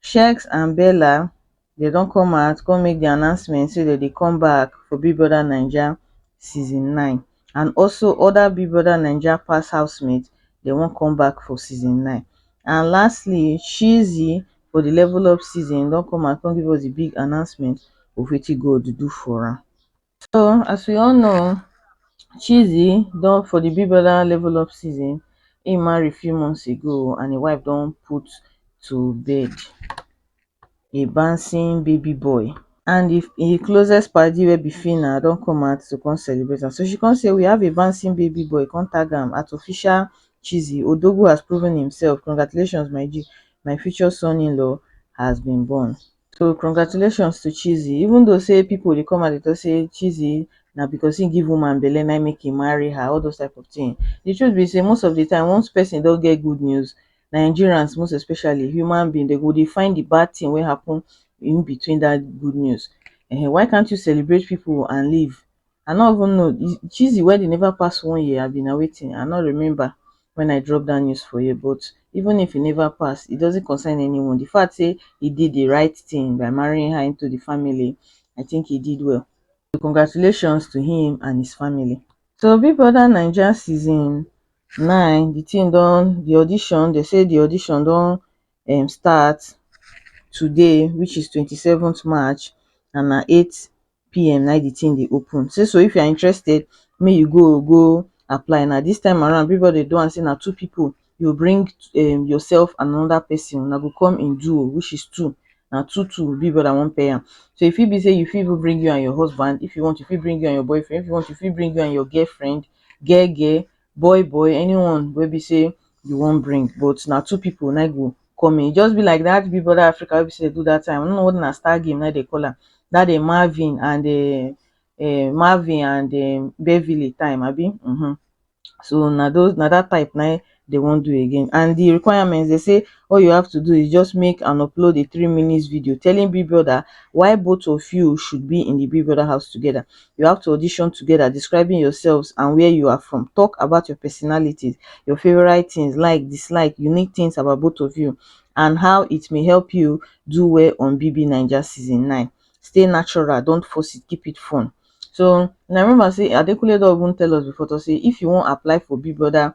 Sheggz and Bella dem don come out come make di announcement say dem dey come back for Big Brother Naija season nine and also oda Big Brother Naija past housemates dem wan come back for season nine and lastly Cheesy for di level up season don come out come give us di big announcement of wetin God do for am. So as we all know, Chizzy don for the Big Brother level up season, he marry few months ago and his wife don put to bed a bouncing baby boy. And if his closest party wey be Fina don come out to come celebrate am. So she come say we have a bouncing baby boy, come tag am at official Chizzy. Odogwu has proven himself, congratulations my G, my future son-in-law has been born. So congratulations to Chizzy even though say people dey come and dey talk say Chizzy na because he give woman belle na make he marry her all those type of thing. The truth be say most of the time once person don get good news Nigerians most especially human being they go dey find the bad thing wey happen in between that good news um why can't you celebrate people and leave I no even know cheesy wedding never pass one year abi na wetin I no remember when I drop that news for here but even if e never pass it doesn't concern anyone the fact say he did the right thing by marrying her into the family I think he did well so congratulations to him and his family. So Big Brother Naija season nine the thing don the audition they say the audition don um start today which is twenty seventh March and na eight pm na im the thing dey open say so if you are interested make you go go apply na this time around Bigboy dey do am say na two people you go bring um yourself and another person una go come in duo which is two na two two Big brother wan pay am so e fit be say you fit even bring you and your husband if you want you fit bring you and your boyfriend if you want you fit bring you and your girlfriend geh geh boy boy anyone wey be sey you wan bring but na two pipu na im go come in, e just be like dat big brother Africa wey be sey dem do dat time I no know whether na star game na im dem call am dat dem Marvin and um um Marvin and um Beverly time abi um so na those na dat type na im dem wan do again and de requirement dem sey all you have to do is just make and upload a three minutes video telling big brother why both of you should be in de big brother house together you have to audition together describing yourselves and where you are from talk about your personalities your favorite things like dislike unique things about both of you and how it may help you do well on bb niger season 9 stay natural don't force it keep it fun so na remember say adekunle don even tell us before to say if you wan apply for big brother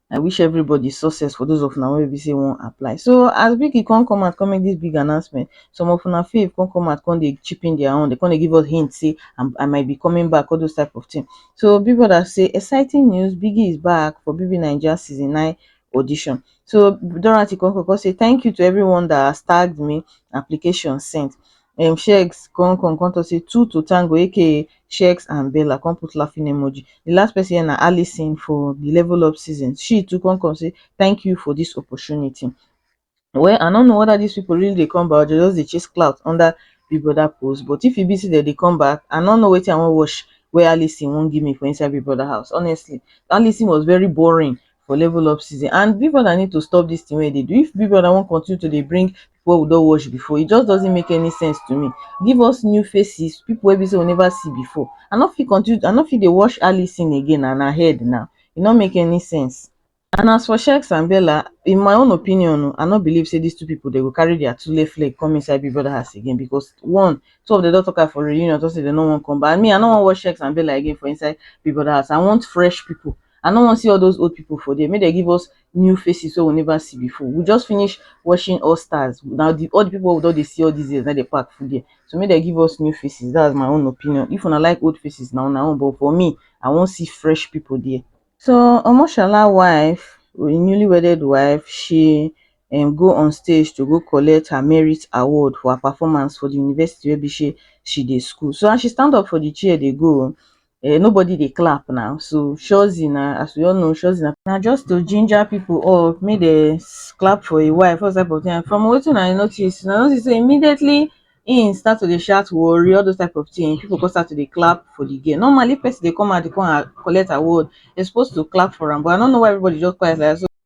I wish everybody success for those of una wey be say wan apply. So as Biggie come come out come make this big announcement, some of una fave come come out come dey chip in their own, they come dey give us hint say I'm, I might be coming back, all those type of thing. So Big Brother say exciting news, Biggie is back for BB Naija season 9 audition. So Dorothy come come come say thank you to everyone that has tagged me, application sent. um shegs con con con talk say two to tango aka shegs and bella con put laughing emoji the last person here na alison for the level up season she too con con say thank you for this opportunity well i no know whether these people really dey come back or they just dey chase clout under big brother post but if e be say dem dey come back i no know wetin i wan watch wey alison wan give me for inside big brother house honestly alison was very boring for level up season and big brother need to stop this thing wey e dey do if big brother wan continue to dey bring wey we don watch before e just doesn't make any sense to me give us new faces people wey be say we never see before i no fit continue i no fit dey watch Alison again and her head now e no make any sense and as for Shex and Bella in my own opinion o i no believe say these two people dem go carry their tule flex come inside big brother house again because one two of them don talk am for reunion talk say dem no wan come back and me i no wan watch Shex and Bella again for inside big brother house i want fresh people I no wan see all those old people for there. Make dem give us new faces wey we never see before. We just finish watching All Stars. Na the all the people wey we don dey see all these years na dey pack full there. So make dem give us new faces. That's my own opinion. If una like old faces na una own but for me, I wan see fresh people there. So Omoshola wife, im newly wedded wife, she um go on stage to go collect her merit award for her performance for the university wey be say she dey school. So as she stand up for the chair dey go, um nobody dey clap now so shozi na as we all know shozi na na just to ginger people up make dem clap for im wife what's type of thing from wetin I notice una notice sey immediately im start to dey shout worri all those type of thing people come start to dey clap for the girl normally if person dey come out to come collect award dem suppose to clap for am but I no know why everybody just quiet like that so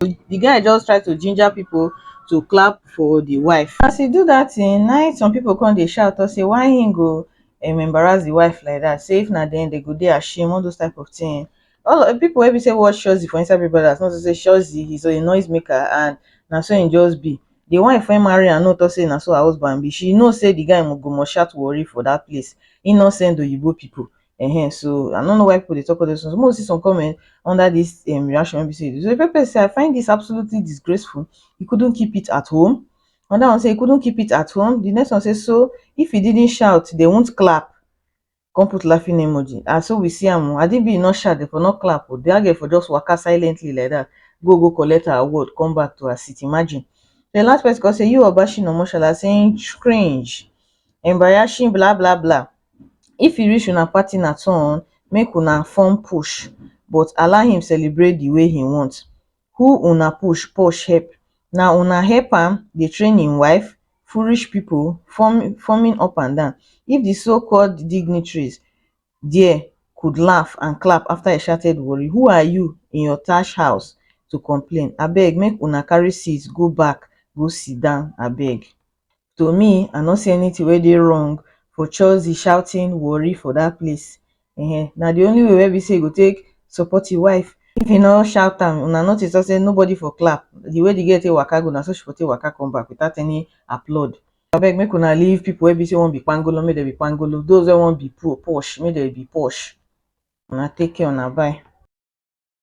the guy just try to ginger people to clap for the wife. As he do that thing, na him some people come dey shout talk say why him go um, embarrass the wife like that. Say if na them, they go dey ashamed, all those type of thing. All of, people wey be say watch Shozi for inside Big Brothers know say Shozi he's a noise maker and na so him just be. The wife wey marry am no talk say na so her husband be. She know say the guy go must shout worry for that place. Innocent Oyibo people. Ehen, so I no know why people dey talk all those things. Make we see some comment under this um, reaction wey be say so Pepe say I find this absolutely disgraceful. He couldn't keep it at home. Another one say he couldn't keep it at home. The next one say so if he didn't shout, they won't clap. Come put laughing emoji. And so we see am. I didn't be not shout, they for not clap. Oh, the girl for just waka silently like that. Go go collect her award, come back to her seat. Imagine. The last person come say you Obashin Omoshala saying cringe, embarrassing, blah blah blah. if e reach una partner turn make una form push but allow him celebrate the way he want who una push push help na una help am dey train him wife foolish people form forming up and down if the so called dignitaries there could laugh and clap after he shouted warri who are you in your tash house to complain abeg make una carry seat go back go sit down abeg to me i no see anything wey dey wrong for churzy shouting warri for dat place um na the only way wey be say you go take support im wife if im no shout am una notice talk say nobody for clap the way the girl take waka go na so she for take waka come back without any applaud abeg make una leave people wey be say wan be kpangolo make dem be kpangolo those wey wan be posh make dem be posh una take care una bye.